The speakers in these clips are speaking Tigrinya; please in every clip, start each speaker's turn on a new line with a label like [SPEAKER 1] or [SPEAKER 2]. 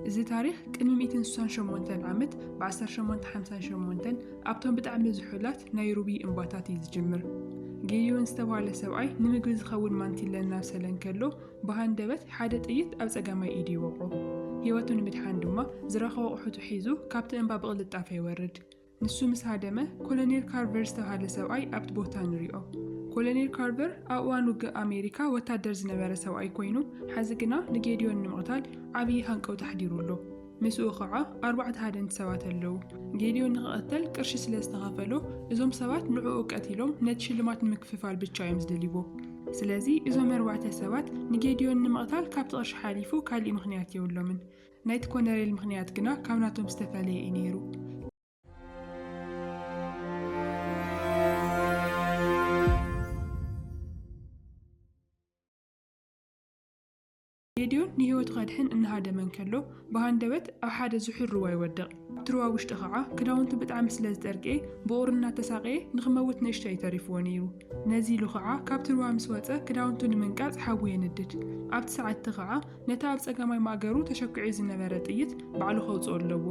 [SPEAKER 1] እዚ ታሪኽ ቅድሚ ሚእትን ስሳን ሸሞንተን ዓመት ብዓሰርተ ሸሞንተ ሓምሳን ሸሞንተን ኣብቶም ብጣዕሚ ዝሑላት ናይ ሩብዪ እምባታት እዩ ዝጅምር። ጌዲዮን ዝተብሃለ ሰብኣይ ንምግቢ ዝኸውን ማንቲለ እናብሰለ እንከሎ ብሃንደበት ሓደ ጥይት ኣብ ጸጋማይ ኢዱ ይወቕዖ። ህይወቱ ንምድሓን ድማ ዝረኸቦ ኣቑሑቱ ሒዙ ካብቲ እምባ ብቕልጣፈ ይወርድ። ንሱ ምስ ሃደመ፣ ኮሎኔል ካርቨር ዝተብሃለ ሰብኣይ ኣብቲ ቦታ ንሪኦ። ኮሎኔል ካርቨር ኣብ እዋን ውግእ ኣሜሪካ ወታደር ዝነበረ ሰብኣይ ኮይኑ፣ ሐዚ ግና ንጌድዮን ንምቕታል ዓብዪ ሃንቀውታ ኣሕዲሩ ኣሎ። ምስኡ ኸዓ ኣርባዕተ ሃደንቲ ሰባት ኣለዉ። ጌድዮን ንኽቕተል ቅርሺ ስለ ዝተኸፈሎ፣ እዞም ሰባት ንዕኡ ቀቲሎም ነቲ ሽልማት ንምክፍፋል ብቻ እዮም ዝደልይዎ። ስለዚ እዞም ኣርባዕተ ሰባት ንጌድዮን ንምቕታል ካብቲ ቅርሺ ሓሊፉ ካሊእ ምኽንያት የብሎምን። ናይቲ ኮነሬል ምኽንያት ግና ካብ ናቶም ዝተፈለየ እዩ ነይሩ። ጌድዮን ንህይወቱ ከድሕን እናሃደመ እንከሎ ብሃንደበት ኣብ ሓደ ዝሑል ሩባ ይወድቕ። ኣብቲ ሩባ ውሽጢ ከዓ ክዳውንቱ ብጣዕሚ ስለ ዝጠርቅኤ ብቑሪ እናተሳቀየ ንኽመውት ንእሽቶ እዩ ተሪፍዎ ነይሩ። ነዚ ኢሉ ከዓ ካብቲ ሩባ ምስ ወፀ ክዳውንቱ ንምንቃፅ ሓዊ የንድድ። ኣብቲ ሰዓት እቲ ከዓ ነቲ ኣብ ጸጋማይ ማእገሩ ተሸኲዑ ዝነበረ ጥይት ባዕሉ ከውጽኦ ኣለዎ።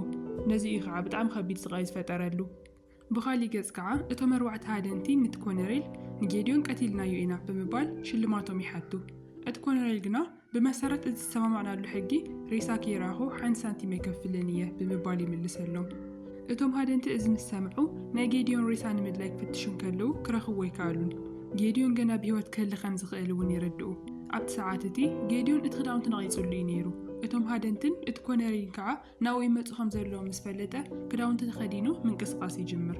[SPEAKER 1] ነዚ እዩ ከኣ ብጣዕሚ ከቢድ ስቓይ ዝፈጠረሉ። ብኻሊእ ገጽ ከኣ እቶም ኣርባዕተ ሃደንቲ ንቲ ኮነሬል ንጌድዮን ቀቲልናዮ ኢና ብምባል ሽልማቶም ይሓቱ። እቲ ኮነሬል ግና ብመሰረት እቲ ዝተሰማማዕናሉ ሕጊ ሬሳኪ ይርኣኹ ሓንቲ ሳንቲም ኣይከፍልን እየ ብምባል ይምልሰሎም። እቶም ሃደንቲ እዚ ምስ ሰምዑ፣ ናይ ጌድዮን ሬሳ ንምድላይ ክፍትሹ እንከለዉ ክረኽብዎ ኣይከኣሉን። ጌድዮን ገና ብህይወት ክህሊ ከም ዝኽእል እውን ይርድኡ። ኣብቲ ሰዓት እቲ፣ ጌድዮን እቲ ክዳውንቲ ነቒጹሉ እዩ ነይሩ። እቶም ሃደንትን እቲ ኮነሪልን ከኣ ናብኡ ይመጹ ከም ዘለዉ ምስ ፈለጠ፣ ክዳውንቲ ተኸዲኑ ምንቅስቓስ ይጅምር።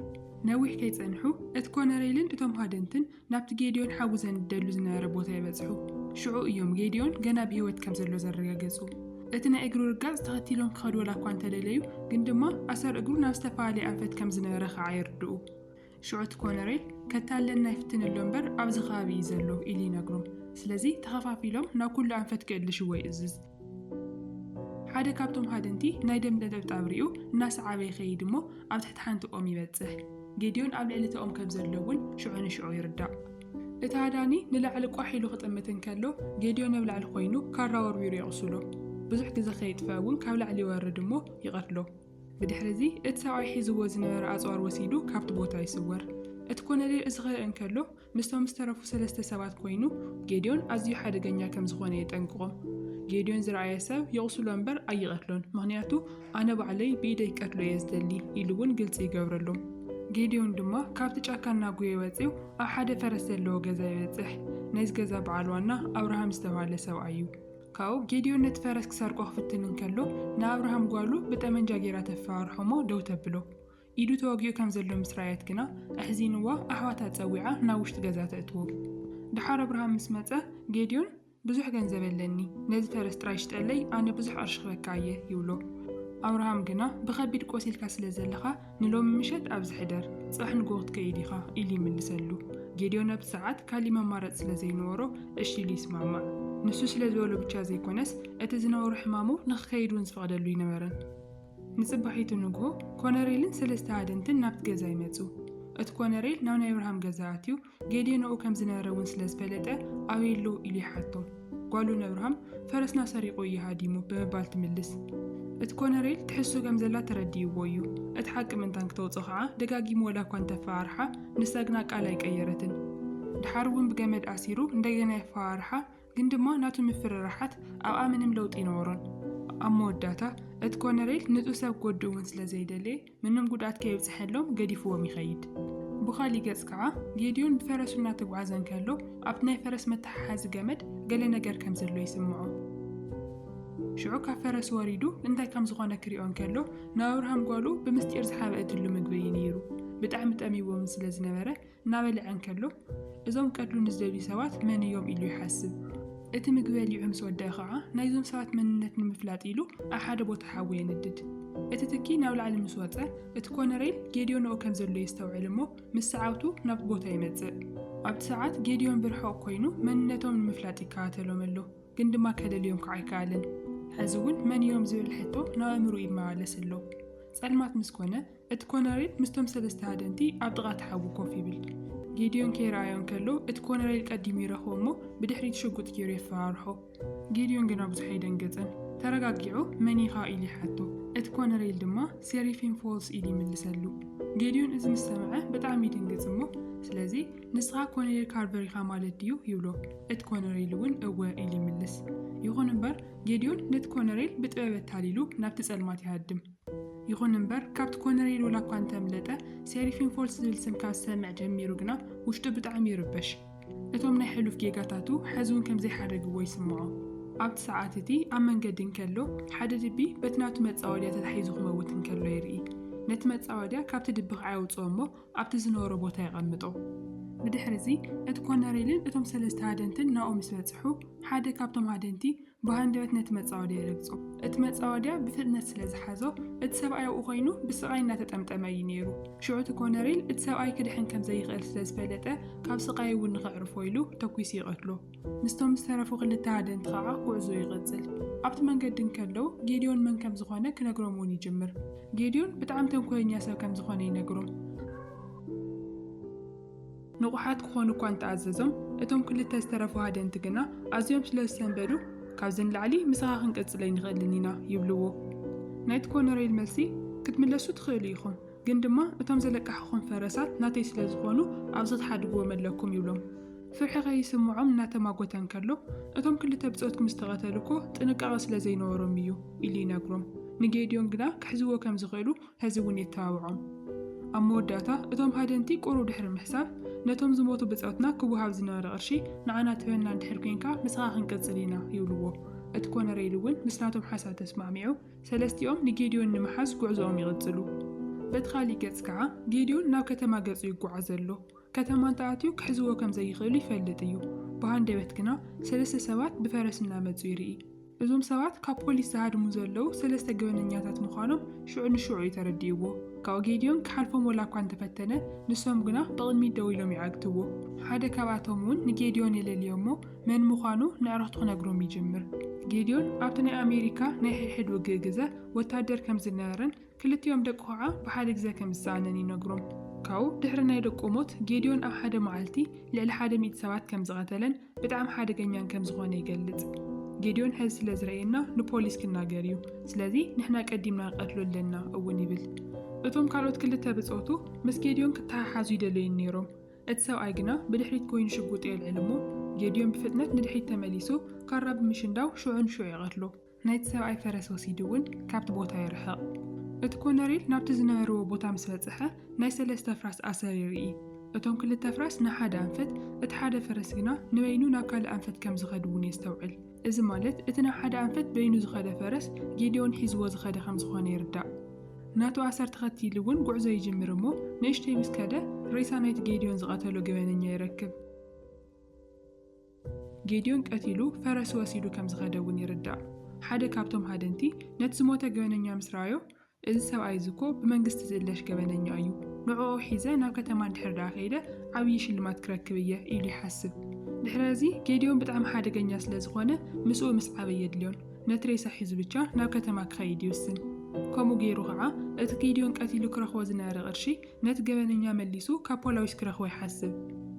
[SPEAKER 1] ነዊሕ ከይጸንሑ፣ እቲ ኮነሪልን እቶም ሃደንትን ናብቲ ጌዴዎን ሓዊ ዘንድደሉ ዝነበረ ቦታ ይበጽሑ። ሽዑ እዮም ጌዴዎን ገና ብህይወት ከም ዘሎ ዘረጋገጹ። እቲ ናይ እግሩ ርጋጽ ተኸቲሎም ክኸዱ ወላኳ እንተደለዩ፣ ግን ድማ ኣሰር እግሩ ናብ ዝተፈላለየ ኣንፈት ከም ዝነበረ ከኣ የርድኡ። ሽዑ እቲ ኮነሬል፣ ከታልለና ይፍትን ኣሎ እምበር ኣብዚ ከባቢ እዩ ዘሎ ኢሉ ይነግሮም። ስለዚ ተኸፋፊሎም ናብ ኩሉ ኣንፈት ክእልሽዎ ይእዝዝ። ሓደ ካብቶም ሃደንቲ ናይ ደም ነጠብጣብ ርእዩ እናሰዓበ ይኸይድ እሞ ኣብ ትሕቲ ሓንቲ ኦም ይበጽሕ። ጌድዮን ኣብ ልዕሊ እታ ኦም ከም ዘሎ እውን ሽዑ ንሽዑ ይርዳእ። እቲ ሃዳኒ ንላዕሊ ቋሕ ኢሉ ክጥምት እንከሎ ጌድዮን ኣብ ላዕሊ ኮይኑ ካራ ወርዊሩ የቝስሎ። ብዙሕ ግዜ ከየጥፍኣ እውን ካብ ላዕሊ ይወርድ እሞ ይቐትሎ። ብድሕሪ እዚ እቲ ሰብኣይ ሒዝዎ ዝነበረ ኣጽዋር ወሲዱ ካብቲ ቦታ ይስወር። እቲ ኮነሬል እዚ ክርኢ እንከሎ ምስቶም ዝተረፉ ሰለስተ ሰባት ኰይኑ፣ ጌድዮን ኣዝዩ ሓደገኛ ከም ዝዀነ የጠንቅቖም። ጌድዮን ዝረኣየ ሰብ የቝስሎ እምበር ኣይቐትሎን፣ ምኽንያቱ ኣነ ባዕለይ ብኢደይ ክቀትሎ እየ ዝደሊ ኢሉ እውን ግልጺ ይገብረሎም። ጌድዮን ድማ ካብቲ ጫካ እናጐየ ወጺኡ ኣብ ሓደ ፈረስ ዘለዎ ገዛ ይበጽሕ። ናይዚ ገዛ በዓል ዋና ኣብርሃም ዝተባህለ ሰብኣይ እዩ። ካብኡ ጌድዮን ነቲ ፈረስ ክሰርቆ ክፍትን እንከሎ ንኣብርሃም ጓሉ ብጠመንጃ ገይራ ተፈራርሖ እሞ ደው ተብሎ። ኢዱ ተወጊኡ ከም ዘሎ ምስ ረኣየት ግና ኣሕዚንዋ ኣሕዋታ ጸዊዓ ናብ ውሽጢ ገዛ ተእትዎ። ደሓር ኣብርሃም ምስ መጸ ጌድዮን ብዙሕ ገንዘብ ኣለኒ፣ ነዚ ፈረስ ጥራይ ሽጠለይ ኣነ ብዙሕ ቅርሺ ክበካ እየ ይብሎ። ኣብርሃም ግና ብኸቢድ ቆሲልካ ስለ ዘለኻ ንሎሚ ምሸት ኣብዚ ሕደር፣ ጽባሕ ንግሆ ክትከይድ ኢኻ ኢሉ ይምልሰሉ። ጌድዮን ኣብቲ ሰዓት ካሊእ መማረጺ ስለ ዘይነበሮ እሺ ኢሉ ይስማማዕ። ንሱ ስለ ዝበሎ ብቻ ዘይኮነስ እቲ ዝነበሮ ሕማሙ ንክከይድ እውን ዝፈቅደሉ ኣይነበረን። ንጽባሒቱ ንግሆ፣ ኮነሬልን ሰለስተ ሃደንትን ናብቲ ገዛ ይመጹ። እቲ ኮነሬል ናብ ናይ ኣብርሃም ገዛ ኣትዩ፣ ጌዴዎን ኣብኡ ከም ዝነበረ እውን ስለ ዝፈለጠ፣ ኣበይ ኣሎ? ኢሉ ይሓቶም። ጓሉ ንኣብርሃም፣ ፈረስና ሰሪቑ እዩ ሃዲሙ፣ ብምባል ትምልስ። እቲ ኮነሬል ትሕዝቶ ከም ዘላ ተረዲእዎ እዩ። እቲ ሓቂ ምእንታን ክተውጽኦ ከኣ ደጋጊሙ ወላ እኳ እንተ ኣፈራርሓ፣ ንሳ ግና ቃል ኣይቀየረትን። ደሓር እውን ብገመድ ኣሲሩ እንደገና የፈራርሓ፣ ግን ድማ ናቱ ምፍርራሓት ኣብኣ ምንም ለውጢ ኣይነበሮን። ኣብ መወዳእታ፣ እቲ ኮነሬል ንጹህ ሰብ ክወድእ እውን ስለ ዘይደለየ፣ ምንም ጉድኣት ከየብጽሐሎም ገዲፍዎም ይኸይድ። ብኻሊእ ገጽ ከኣ፣ ጌድዮን ብፈረሱ እናተጓዕዘ እንከሎ፣ ኣብቲ ናይ ፈረስ መተሓሓዚ ገመድ ገለ ነገር ከም ዘሎ ይስምዖ። ሽዑ ካብ ፈረሱ ወሪዱ እንታይ ከም ዝኾነ ክሪኦ እንከሎ፣ ንኣብርሃም ጓሉ ብምስጢር ዝሓበአትሉ ምግቢ እዩ ነይሩ። ብጣዕሚ ጠሚይዎ እውን ስለ ዝነበረ፣ እናበልዐ እንከሎ፣ እዞም ቀትሉ ንዝደልዩ ሰባት መን እዮም ኢሉ ይሓስብ። እቲ ምግቢ በሊዑ ምስ ወድኣ ኸዓ፣ ናይዞም ሰባት መንነት ንምፍላጥ ኢሉ ኣብ ሓደ ቦታ ሓዊ የንድድ። እቲ ትኪ ናብ ላዕሊ ምስ ወጸ፣ እቲ ኮነሬል ጌድዮን ኣብኡ ከም ዘሎ የስተውዕል እሞ ምስ ሰዓብቱ ናብቲ ቦታ ይመጽእ። ኣብቲ ሰዓት ጌድዮን ብርሑቕ ኮይኑ መንነቶም ንምፍላጥ ይከታተሎም ኣሎ፣ ግን ድማ ከለልዮም ከዓ ኣይከኣለን። ሕዚ እውን መን እዮም ዝብል ሕቶ ናብ ኣእምርኡ ይመላለስ ኣሎ። ጸልማት ምስ ኮነ፣ እቲ ኮነሬል ምስቶም ሰለስተ ሃደንቲ ኣብ ጥቓ እቲ ሓዊ ኮፍ ይብል። ጌድዮን ከይረኣዮ እንከሎ እቲ ኮነሬል ቀዲሙ ይረኽቦ እሞ ብድሕሪት ሽጉጥ ገይሩ የፈራርሖ። ጌድዮን ግና ብዙሕ ኣይደንገጸን። ተረጋጊዑ መን ኢኻ ኢሉ ይሓቶ። እቲ ኮነሬል ድማ ሴሪፊን ፎልስ ኢሉ ይምልሰሉ። ጌድዮን እዚ ምስ ሰምዐ ብጣዕሚ ይድንግጽ እሞ ስለዚ ንስኻ ኮነሬል ካርቨር ኢኻ ማለት ድዩ ይብሎ። እቲ ኮነሬል እውን እወ ኢሉ ይምልስ። ይኹን እምበር ጌድዮን ነቲ ኮነሬል ብጥበብ ኣታሊሉ ናብቲ ጸልማት ይሃድም። ይኹን እምበር ካብቲ ኮነሬል ወላ እኳ እንተምለጠ ሴሪፊን ፎልስ ዝብል ስም ካብ ዝሰምዕ ጀሚሩ ግና ውሽጡ ብጣዕሚ ይርበሽ። እቶም ናይ ሕሉፍ ጌጋታቱ ሐዚ እውን ከም ዘይሓደግዎ ይስምዖ። ኣብቲ ሰዓት እቲ ኣብ መንገዲ እንከሎ ሓደ ድቢ በቲ ናቱ መፃወድያ ተታሒዙ ክመውት እንከሎ ይርኢ። ነቲ መፃወድያ ካብቲ ድቢ ከዓ የውፅኦ እሞ ኣብቲ ዝነበሮ ቦታ የቐምጦ። ብድሕሪ እዚ እቲ ኮነሬልን እቶም ሰለስተ ሃደንትን ናብኡ ምስ በፅሑ ሓደ ካብቶም ሃደንቲ ብሃንደበት ነቲ መጻወድያ ይረግጾ። እቲ መጻወድያ ብፍጥነት ስለ ዝሓዞ፣ እቲ ሰብኣይ ኣብኡ ዀይኑ ብስቓይ እናተጠምጠመ እዩ ነይሩ። ሽዑ እቲ ኮነሪል እቲ ሰብኣይ ክድሕን ከም ዘይኽእል ስለ ዝፈለጠ፣ ካብ ስቓዩ እውን ንኼዕርፎ ኢሉ ተኲሱ ይቐትሎ። ምስቶም ዝተረፉ ኽልተ ሃደንቲ ኸኣ ጕዕዞኡ ይቕጽል። ኣብቲ መንገዲ እንከለዉ፣ ጌድዮን መን ከም ዝዀነ ክነግሮም እውን ይጅምር። ጌድዮን ብጣዕሚ ተንኰለኛ ሰብ ከም ዝዀነ ይነግሮም። ንቑሓት ክዀኑ እኳ እንተ ኣዘዞም፣ እቶም ክልተ ዝተረፉ ሃደንቲ ግና ኣዝዮም ስለ ዝሰንበዱ፣ ካብዚ ንላዕሊ ምሳኻ ክንቅጽል ኣይንኽእልን ኢና ይብልዎ። ናይቲ ኮነሬል መልሲ፣ ክትምለሱ ትኽእሉ ኢኹም፣ ግን ድማ እቶም ዘለቃሕኹም ፈረሳት ናተይ ስለ ዝዀኑ ኣብዚ ክትሓድግዎም ኣለኩም ይብሎም። ፍርሒ ከይስምዖም እናተማጐተ እንከሎ፣ እቶም ክልተ ብጾትኩም ዝተቐተሉ እኮ ጥንቃቐ ስለ ዘይነበሮም ኢዩ ኢሉ ይነግሮም። ንጌድዮን ግና ክሕዝዎ ከም ዝኽእሉ ሐዚ እውን የተባብዖም። ኣብ መወዳእታ እቶም ሃደንቲ ቁሩብ ድሕሪ ምሕሳብ ነቶም ዝሞቱ ብፆትና ክወሃብ ዝነበረ ቅርሺ ንዓና ትህበና እንድሕር ኮይንካ ምሳኻ ክንቅፅል ኢና ይብልዎ። እቲ ኮነሬል እውን ምስ ናቶም ሓሳብ ተስማዕሚዑ ሰለስቲኦም ንጌዲዮን ንምሓዝ ጉዕዞኦም ይቕፅሉ። በቲ ካሊእ ገፅ ከዓ ጌዲዮን ናብ ከተማ ገፁ ይጓዓዝ ኣሎ። ከተማ እንተኣትዩ ክሕዝዎ ከምዘይኽእሉ ይፈልጥ እዩ። ብሃንደበት ግና ሰለስተ ሰባት ብፈረስ እናመፁ ይርኢ። እዞም ሰባት ካብ ፖሊስ ዝሃድሙ ዘለዉ ሰለስተ ገበነኛታት ምዃኖም ሽዑ ንሽዑ እዩ ተረዲእዎ። ካብኡ ጌድዮን ክሓልፎም ወላ እኳ እንተፈተነ፣ ንሶም ግና ብቕድሚት ደው ኢሎም ይዓግትዎ። ሓደ ካብኣቶም እውን ንጌድዮን የለልዮ'ሞ መን ምዃኑ ነዕርኽቱ ክነግሮም ይጅምር። ጌድዮን ኣብቲ ናይ ኣሜሪካ ናይ ሕድሕድ ውግእ ግዘ ወታደር ከም ዝነበረን ክልቲኦም ደቁ ከዓ ብሓደ ግዘ ከም ዝሰኣነን ይነግሮም። ካብኡ ድሕሪ ናይ ደቁ ሞት ጌድዮን ኣብ ሓደ መዓልቲ ልዕሊ ሓደ ሚእቲ ሰባት ከም ዝቐተለን፣ ብጣዕሚ ሓደገኛን ከም ዝኾነ ይገልጽ። ጌድዮን ሕዚ ስለ ዝረእየና ንፖሊስ ክናገር እዩ፣ ስለዚ ንሕና ቀዲምና ንቐትሎ ኣለና እውን ይብል። እቶም ካልኦት ክልተ ብጾቱ ምስ ጌድዮን ክተሓሓዙ ይደለዩን ነይሮም፣ እቲ ሰብኣይ ግና ብድሕሪት ኮይኑ ሽጉጡ የልዕል እሞ ጌድዮን ብፍጥነት ንድሕሪት ተመሊሱ ካራ ብምሽንዳው ሽዑ ንሽዑ ይቐትሎ። ናይቲ ሰብኣይ ፈረስ ወሲዱ እውን ካብቲ ቦታ ይርሕቕ። እቲ ኮነሪል ናብቲ ዝነበርዎ ቦታ ምስ በጽሐ ናይ ሰለስተ ኣፍራስ ኣሰር ይርኢ። እቶም ክልተ ኣፍራስ ንሓደ ኣንፈት፣ እቲ ሓደ ፈረስ ግና ንበይኑ ናብ ካልእ ኣንፈት ከም ዝኸድ እውን የስተውዕል። እዚ ማለት እቲ ናብ ሓደ ኣንፈት በይኑ ዝኸደ ፈረስ ጌዴዎን ሒዝዎ ዝኸደ ከም ዝኾነ ይርዳእ። ናቱ ኣሰር ተኸቲሉ እውን ጉዕዞ ይጅምር እሞ ንእሽተይ ምስ ከደ ሬሳ ናይቲ ጌዴዎን ዝቐተሎ ገበነኛ ይረክብ። ጌድዮን ቀቲሉ ፈረሱ ወሲዱ ከም ዝኸደ እውን ይርዳእ። ሓደ ካብቶም ሃደንቲ ነቲ ዝሞተ ገበነኛ ምስ ረኣዮ፣ እዚ ሰብኣይ እዚ እኮ ብመንግስቲ ዝእለሽ ገበነኛ እዩ፣ ንዕኡ ሒዘ ናብ ከተማ እንድሕር ደኣ ከይደ ዓብዪ ሽልማት ክረክብ እየ ኢሉ ይሓስብ። ድሕረ እዚ ጌድዮን ብጣዕሚ ሓደገኛ ስለ ዝኾነ ምስኡ ምስዓብ ኣየድልዮን፣ ነቲ ሬሳ ሒዙ ብቻ ናብ ከተማ ክኸይድ ይውስን። ከምኡ ገይሩ ከዓ እቲ ጌድዮን ቀቲሉ ክረኽቦ ዝነበረ ቅርሺ ነቲ ገበነኛ መሊሱ ካብ ፖላዊስ ክረኽቦ ይሓስብ።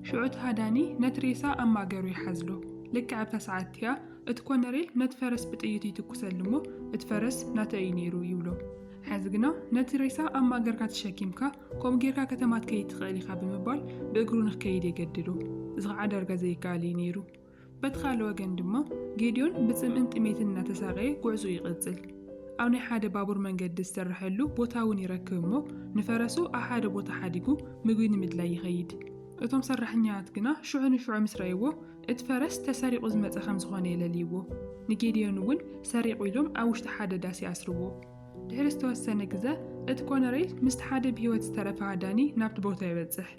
[SPEAKER 1] ሽዑ እቲ ሃዳኒ ነቲ ሬሳ ኣብ ማእገሩ ይሓዝሎ። ልክዕ ኣብታ ሰዓት እቲኣ፣ እቲ ኮነሬል ነቲ ፈረስ ብጥይቱ ይትኩሰሉ እሞ፣ እቲ ፈረስ ናተይ እዩ ነይሩ ይብሎ። ሕዚ ግና ነቲ ሬሳ ኣብ ማእገርካ ተሸኪምካ ከምኡ ጌርካ ከተማ ትከይድ ትኽእል ኢኻ ብምባል ብእግሩ ንክከይድ የገድዶ። እዚ ኸዓ ዳርጋ ዘይከኣል እዩ ነይሩ። በቲ ካልእ ወገን ድማ ጌድዮን ብጽምእን ጥሜትን እናተሳቐየ ጉዕዝኡ ይቕጽል። ኣብ ናይ ሓደ ባቡር መንገዲ ዝስረሐሉ ቦታ እውን ይረክብ እሞ ንፈረሱ ኣብ ሓደ ቦታ ሓዲጉ ምግቢ ንምድላይ ይኸይድ። እቶም ሰራሕኛታት ግና ሽዑ ንሽዑ ምስ ረኣይዎ እቲ ፈረስ ተሰሪቑ ዝመጸ ከም ዝኾነ የለልይዎ። ንጌድዮን እውን ሰሪቑ ኢሎም ኣብ ውሽጢ ሓደ ዳስ ይኣስርዎ። ድሕሪ ዝተወሰነ ግዘ እቲ ኮነሬል ምስቲ ሓደ ብህይወት ዝተረፈ ሃዳኒ ናብቲ ቦታ ይበጽሕ።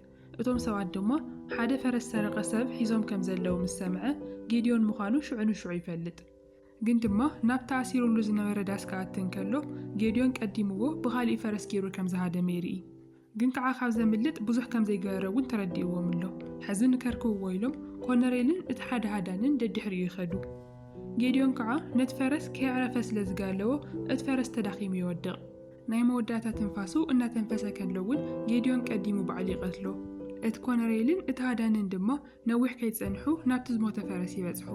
[SPEAKER 1] እቶም ሰባት ድማ ሓደ ፈረስ ዝሰረቐ ሰብ ሒዞም ከም ዘለዉ ምስ ሰምዐ፣ ጌዴዎን ምዃኑ ሽዑ ንሽዑ ይፈልጥ። ግን ድማ ናብቲ ኣሲሩሉ ዝነበረ ዳስ ክኣቲ እንከሎ፣ ጌዴዎን ቀዲምዎ ብኻሊእ ፈረስ ገይሩ ከም ዝሃደመ ይርኢ። ግን ከዓ ካብ ዘምልጥ ብዙሕ ከም ዘይገበረ እውን ተረዲእዎም ኣሎ። ሕዚ ንከርክብዎ ኢሎም ኮነሬልን እቲ ሓደ ሃዳንን ደድሕሪኡ ይኸዱ። ጌዴዎን ከዓ ነቲ ፈረስ ከየዕረፈ ስለ ዝጋለቦ እቲ ፈረስ ተዳኺሙ ይወድቕ። ናይ መወዳእታ ትንፋሱ እናተንፈሰ ከሎ'ውን ጌድዮን ቀዲሙ ባዕሉ ይቐትሎ። እቲ ኮነሬልን እቲ ሃዳኒን ድማ ነዊሕ ከይጸንሑ ናብቲ ዝሞተ ፈረስ ይበጽሑ።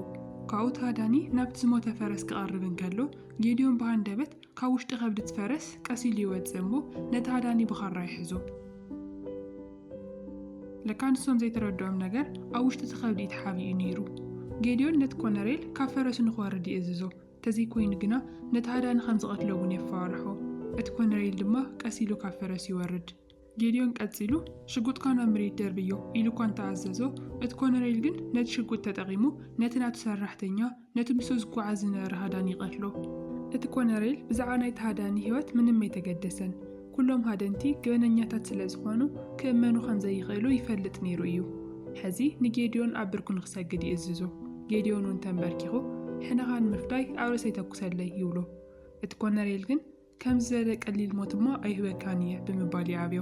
[SPEAKER 1] ካብኡ እቲ ሃዳኒ ናብቲ ዝሞተ ፈረስ ክቐርብ እንከሎ ጌድዮን ብሃንደበት ካብ ውሽጢ ከብዲ'ቲ ፈረስ ቀስ ኢሉ ይወጽእ እሞ ነቲ ሃዳኒ ብኻራ ይሕዞ። ለካ ንሶም ዘይተረድኦም ነገር ኣብ ውሽጢ'ቲ ከብዲ'ዩ ተሓቢኡ ነይሩ። ጌድዮን ነቲ ኮነሬል ካብ ፈረሱ ንኽወርድ ይእዝዞ። ተዘይኮይኑ ግና ነቲ ሃዳኒ ኸም ዝቐትሎ እውን የፈራርሖ። እቲ ኮነሬል ድማ ቀስ ኢሉ ካብ ፈረሱ ይወርድ። ጌድዮን ቀጺሉ፣ ሽጉጥካ ናብ መሬት ደርብዮ ኢሉ እኳ እንተ ኣዘዞ፣ እቲ ኮነሬል ግን ነቲ ሽጉጥ ተጠቒሙ ነቲ ናቱ ሰራሕተኛ፣ ነቲ ምስኡ ዝጓዓዝ ዝነበረ ሃዳኒ ይቐትሎ። እቲ ኮነሬል ብዛዕባ ናይቲ ሃዳኒ ህይወት ምንም ኣይተገደሰን። ኩሎም ሃደንቲ ገበነኛታት ስለ ዝዀኑ፣ ክእመኑ ኸም ዘይኽእሉ ይፈልጥ ነይሩ እዩ። ሕዚ ንጌድዮን ኣብ ብርኩ ንኺሰግድ ይእዝዞ። ጌድዮን እውን ተምበርኪኹ፣ ሕነኻ ንምፍዳይ ኣብ ርእሰይ ተኵሰለይ፣ ይብሎ። እቲ ኰነሬል ግን፣ ከምዚ ዝበለ ቀሊል ሞት እሞ ኣይህበካን እየ፣ ብምባል ይኣብዮ።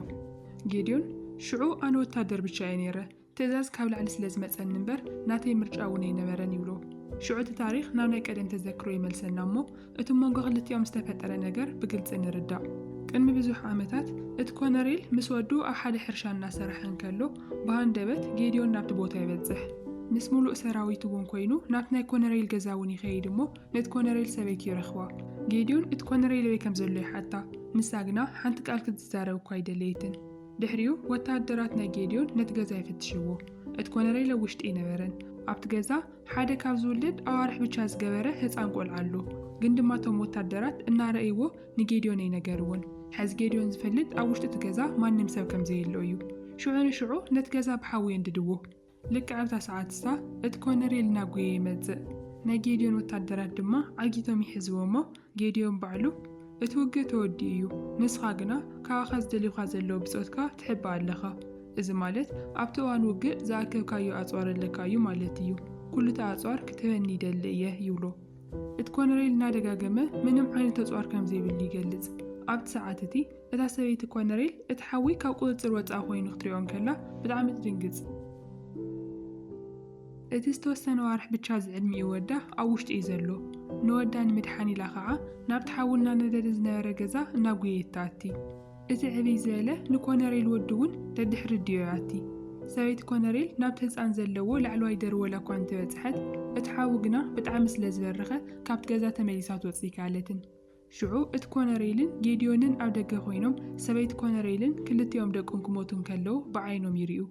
[SPEAKER 1] ጌድዮን፣ ሽዑ ኣነ ወተሃደር ብቻ እየ ነይረ፣ ትእዛዝ ካብ ላዕሊ ስለ ዝመጸኒ እምበር ናተይ ምርጫ እውን ኣይነበረን ይብሎ። ሽዑ እቲ ታሪኽ ናብ ናይ ቀደም ተዘክሮ ይመልሰና እሞ እቲ ኣብ መንጎ ክልቲኦም ዝተፈጠረ ነገር ብግልጺ ንርዳእ። ቅድሚ ብዙሕ ዓመታት እቲ ኮነሬል ምስ ወዱ ኣብ ሓደ ሕርሻ እናሰራሐ እንከሎ ብሃንደበት ጌድዮን ናብቲ ቦታ ይበጽሕ። ምስ ምሉእ ሰራዊቱ እውን ኮይኑ ናብቲ ናይ ኮነሬል ገዛ እውን ይኸይድ እሞ ነቲ ኮነሬል ሰበይቱ ይረኽባ። ጌድዮን እቲ ኮነሬል ኣበይ ከም ዘሎ ይሓታ፣ ንሳ ግና ሓንቲ ቃል ክትዛረብ እኳ ኣይደለየትን። ድሕሪኡ ወተሃደራት ናይ ጌድዮን ነቲ ገዛ ይፍትሽዎ። እቲ ኮነሬለ ውሽጢ ኣይነበረን። ኣብቲ ገዛ ሓደ ካብ ዝውለድ ኣዋርሕ ብቻ ዝገበረ ህፃን ቆልዓ ኣሎ። ግን ድማ እቶም ወታደራት እናረእይዎ ንጌድዮን ኣይነገርዎን። ሐዚ ጌድዮን ዝፈልጥ ኣብ ውሽጢ እቲ ገዛ ማንም ሰብ ከምዘየሎ እዩ። ሽዑ ንሽዑ ነቲ ገዛ ብሓዊ የንድድዎ። ልክዕ ኣብታ ሰዓት እሳ እቲ ኮነሬል እናጎየ ይመጽእ። ናይ ጌድዮን ወታደራት ድማ ዓጊቶም ይሕዝዎ እሞ ጌድዮን ባዕሉ እቲ ውግእ ተወዲኡ እዩ፣ ንስኻ ግና ካባኻ ዝደልዩኻ ዘለዉ ብጾትካ ትሕባእ ኣለኻ። እዚ ማለት ኣብቲ እዋን ውግእ ዝኣከብካዮ ኣጽዋር ኣለካ እዩ ማለት እዩ። ኩሉቲ ኣጽዋር ክትህበኒ ይደሊ እየ ይብሎ። እቲ ኮነሬል እናደጋገመ ምንም ዓይነት ኣጽዋር ከም ዘይብሉ ይገልጽ። ኣብቲ ሰዓት እቲ እታ ሰበይቲ ኮነሬል እቲ ሓዊ ካብ ቁጽጽር ወጻኢ ኮይኑ ክትሪኦ እንከላ ብጣዕሚ ትድንግጽ። እቲ ዝተወሰነ ኣዋርሕ ብቻ ዝዕድሚኡ ወዳ ኣብ ውሽጢ እዩ ዘሎ። ንወዳ ንምድሓን ኢላ ኸዓ ናብቲ ሓዊ እናነደደ ዝነበረ ገዛ እናጉየየት ትኣቲ። እቲ ዕብይ ዝበለ ንኮነሬል ወዱ እውን ደድሕሪ ዲዮ ይኣቲ። ሰበይቲ ኮነሬል ናብቲ ህጻን ዘለዎ ላዕለዋይ ደርወላ እኳ እንተበጽሐት እቲ ሓዊ ግና ብጣዕሚ ስለዝበረኸ ካብቲ ገዛ ተመሊሳ ክትወጽእ ኣይከኣለትን። ሽዑ እቲ ኮነሬይልን ጌድዮንን ኣብ ደገ ኮይኖም ሰበይቲ ኮነሬይልን ክልቲኦም ደቁን ክሞቱ እንከለዉ ብዓይኖም ይሪኡ።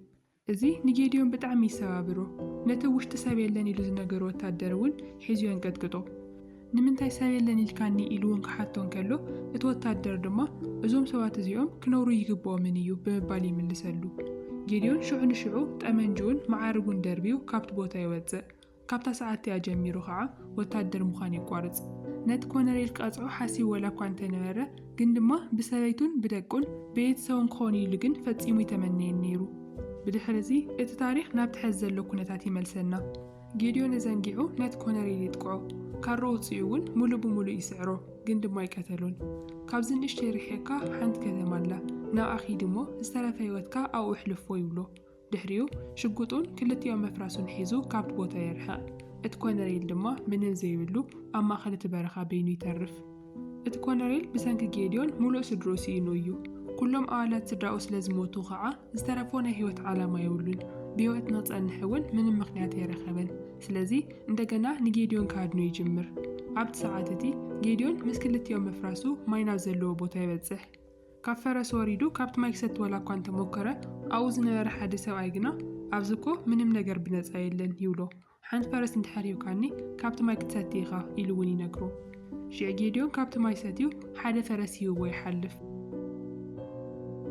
[SPEAKER 1] እዚ ንጌድዮን ብጣዕሚ ይሰባብሮ። ነቲ ኣብ ውሽጢ ሰብ የለን ኢሉ ዝነገሮ ወታደር እውን ሒዙ የንቀጥቅጦ። ንምንታይ ሰብ የለን ኢልካኒ ኢሉ እውን ክሓቶ እንከሎ እቲ ወታደር ድማ እዞም ሰባት እዚኦም ክነብሩ እይግበኦምን እዩ ብምባል ይምልሰሉ። ጌድዮን ሽዑ ንሽዑ ጠመንጅኡን መዓርጉን ደርብዩ ካብቲ ቦታ ይወፅእ። ካብታ ሰዓት'ቲኣ ጀሚሩ ከኣ ወታደር ምዃን የቋርጽ። ነቲ ኮነሬል ክቐጽዖ ሓሲቡ ወላኳ እንተነበረ፣ ግን ድማ ብሰበይቱን ብደቁን ቤየተሰቡን ክኾኑ ኢሉ ግን ፈጺሙ ኣይተመነየን ነይሩ። ብድሕር'ዚ እቲ ታሪኽ ናብቲ ሕዚ ዘሎ ኩነታት ይመልሰና። ጌድዮን እዘንጊዑ ነቲ ኮነሬል የጥቅዖ። ካራ ኣውጺኡ'ውን ምሉእ ብምሉእ ይስዕሮ፣ ግን ድማ ኣይቀተሎን። ካብዚ ንእሽተይ ርሒቕካ ሓንቲ ከተማ ኣላ፣ ናብኣ ኪድ'ሞ ዝተረፈ ህይወትካ ኣብኡ ኣሕልፎ ይብሎ። ድሕሪኡ ሽጉጡን ክልቲኦ መፍራሱን ሒዙ ካብቲ ቦታ የርሕቕ። እቲ ኮነሬል ድማ ምንም ዘይብሉ ኣብ ማእከል እቲ በረኻ በይኑ ይተርፍ። እቲ ኮነሬል ብሰንኪ ጌድዮን ምሉእ ስድርኡ ስኢኑ እዩ። ኩሎም ኣባላት ስድራኡ ስለ ዝሞቱ ኸኣ ዝተረፎ ናይ ህይወት ዓላማ የብሉን። ብህይወት ንኽጸንሕ እውን ምንም ምኽንያት ኣይረኸበን። ስለዚ እንደገና ንጌድዮን ክሃድኖ ይጅምር። ኣብቲ ሰዓት እቲ ጌድዮን ምስ ክልቲኦ መፍራሱ ማይ ናብ ዘለዎ ቦታ ይበጽሕ። ካብ ፈረስ ወሪዱ ካብቲ ማይ ክሰቲ ዋላ እኳ እንተ ሞከረ፣ ኣብኡ ዝነበረ ሓደ ሰብኣይ ግና፣ ኣብዚ እኮ ምንም ነገር ብነጻ የለን፣ ይብሎ። ሓንቲ ፈረስ እንተ ድሕር ሂብካኒ፣ ካብቲ ማይ ክትሰቲ ኢኻ፣ ኢሉ እውን ይነግሮ። ሽዕ ጌድዮን ካብቲ ማይ ሰትዩ ሓደ ፈረስ ሂብዎ ይሓልፍ።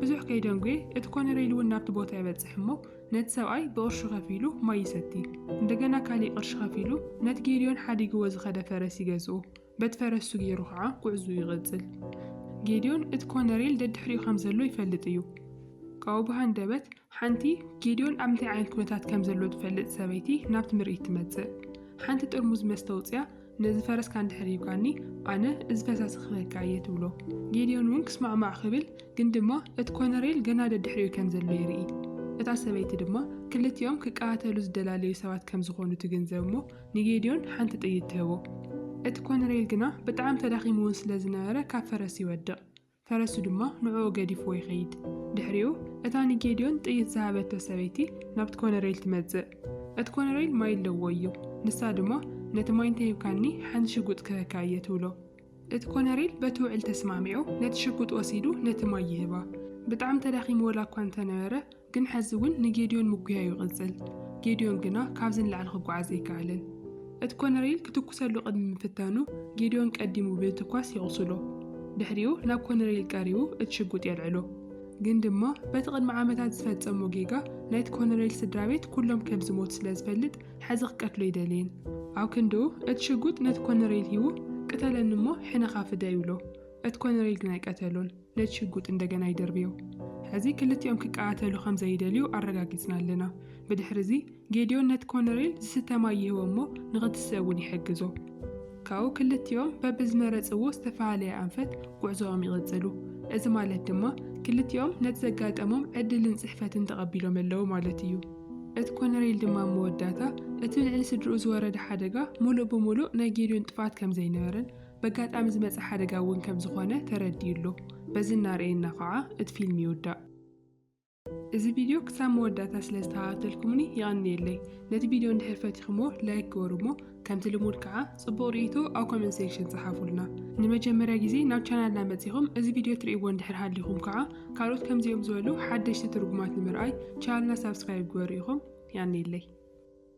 [SPEAKER 1] ብዙሕ ከይደንጉየ እቲ ኮነሬል እውን ናብቲ ቦታ ይበጽሕ እሞ ነቲ ሰብኣይ ብቕርሹ ከፊሉ ማይ ይሰቲ። እንደገና ካሊእ ቅርሺ ከፊሉ ነቲ ጌድዮን ሓዲግዎ ዝኸደ ፈረስ ይገዝኦ። በቲ ፈረሱ ገይሩ ኸዓ ጕዕዙኡ ይቕጽል። ጌድዮን እቲ ኮነሬል ደድሕሪኡ ከም ዘሎ ይፈልጥ እዩ። ካብኡ ብሃንደበት ሓንቲ ጌድዮን ኣብ እንታይ ዓይነት ኵነታት ከም ዘሎ ትፈልጥ ሰበይቲ ናብቲ ምርኢት ትመጽእ። ሓንቲ ጥርሙዝ መስተ ኣውጺኣ ነዚ ፈረስካ እንድሕር ሂብካኒ ኣነ እዚ ፈሳሲ ክህበካ እየ ትብሎ። ጌድዮን እውን ክስማዕማዕ ክብል ግን ድማ እቲ ኮነሬል ገና ደድሕሪኡ ከም ዘሎ ይርኢ። እታ ሰበይቲ ድማ ክልቲኦም ክቀታተሉ ዝደላለዩ ሰባት ከም ዝዀኑ ትግንዘብ እሞ ንጌድዮን ሓንቲ ጥይት ትህቦ። እቲ ኮነሬል ግና ብጣዕሚ ተዳኺሙ'ውን ስለ ዝነበረ ካብ ፈረስ ይወድቕ። ፈረሱ ድማ ንዕኡ ገዲፍዎ ይኸይድ። ድሕሪኡ እታ ንጌድዮን ጥይት ዝሃበቶ ሰበይቲ ናብቲ ኮነሬል ትመጽእ። እቲ ኮነሬል ማይ ኣለዎ እዩ። ንሳ ድማ ነቲ ማይ እንተሂብካኒ ሓንቲ ሽጉጥ ክህበካ እየ ትብሎ። እቲ ኮነሬል በቲ ውዕል ተስማዕሚዑ ነቲ ሽጉጥ ወሲዱ ነቲ ማይ ይህባ። ብጣዕሚ ተዳኺሙ ወላኳ እንተነበረ ግን ሐዚ እውን ንጌድዮን ምጉያዩ ይቕፅል። ጌድዮን ግና ካብዚ ንላዕሊ ክጓዓዝ ኣይከኣለን። እቲ ኮነሬል ክትኩሰሉ ቅድሚ ምፍታኑ ጌድዮን ቀዲሙ ብምትኳስ የቑስሎ። ድሕሪኡ ናብ ኮነሬል ቀሪቡ እቲ ሽጉጥ የልዕሎ። ግን ድማ በቲ ቅድሚ ዓመታት ዝፈፀሞ ጌጋ ናይቲ ኮነሬል ስድራቤት ኩሎም ከምዝሞቱ ስለዝፈልጥ ሐዚ ክቀትሎ ኣይደለየን። ኣብ ክንድኡ እቲ ሽጉጥ ነቲ ኮነሬል ሂቡ ቅተለኒ እሞ ሕነኻ ፍደ ይብሎ። እቲ ኮነሬል ግና ኣይቀተሎን። ነቲ ሽጉጥ እንደገና ይድርብዮ። ሕዚ ክልቲኦም ኪቀታተሉ ኸም ዘይደልዩ ኣረጋጊጽና ኣለና። ብድሕርዚ፣ ጌድዮን ነቲ ኮነሬል ዚስተ ማይ ይህቦ እሞ ንኺትስእ እውን ይሕግዞ። ካብኡ ክልቲኦም በብዝመረጽዎ ዝተፈላለየ ኣንፈት ጕዕዞኦም ይቕጽሉ። እዚ ማለት ድማ፣ ክልቲኦም ነቲ ዘጋጠሞም ዕድልን ጽሕፈትን ተቐቢሎም ኣለዉ ማለት እዩ። እቲ ኮነሬል ድማ ኣብ መወዳእታ፣ እቲ ልዕሊ ስድርኡ ዝወረደ ሓደጋ ምሉእ ብምሉእ ናይ ጌድዮን ጥፍኣት ከም ዘይነበረን፣ በጋጣሚ ዝመጸ ሓደጋ እውን ከም ዝኾነ ተረዲኡ ኣሎ። በዚ እናርኣየና ኸዓ እቲ ፊልም ይውዳእ። እዚ ቪድዮ ክሳብ መወዳእታ ስለ ዝተኸታተልኩምኒ የቐንየለይ። ነቲ ቪድዮ እንድሕር ፈቲኹምዎ ላይክ ግበሩ እሞ ከምቲ ልሙድ ከዓ ጽቡቕ ርእይቶ ኣብ ኮመንት ሴክሽን ጸሓፉልና። ንመጀመርያ ግዜ ናብ ቻናልና መጺኹም እዚ ቪድዮ ትርእይዎ እንድሕር ሃሊኹም ከዓ ካልኦት ከምዚኦም ዝበሉ ሓደሽቲ ትርጉማት ንምርኣይ ቻናልና ሳብስክራይብ ግበሩ ኢኹም። የቐንየለይ።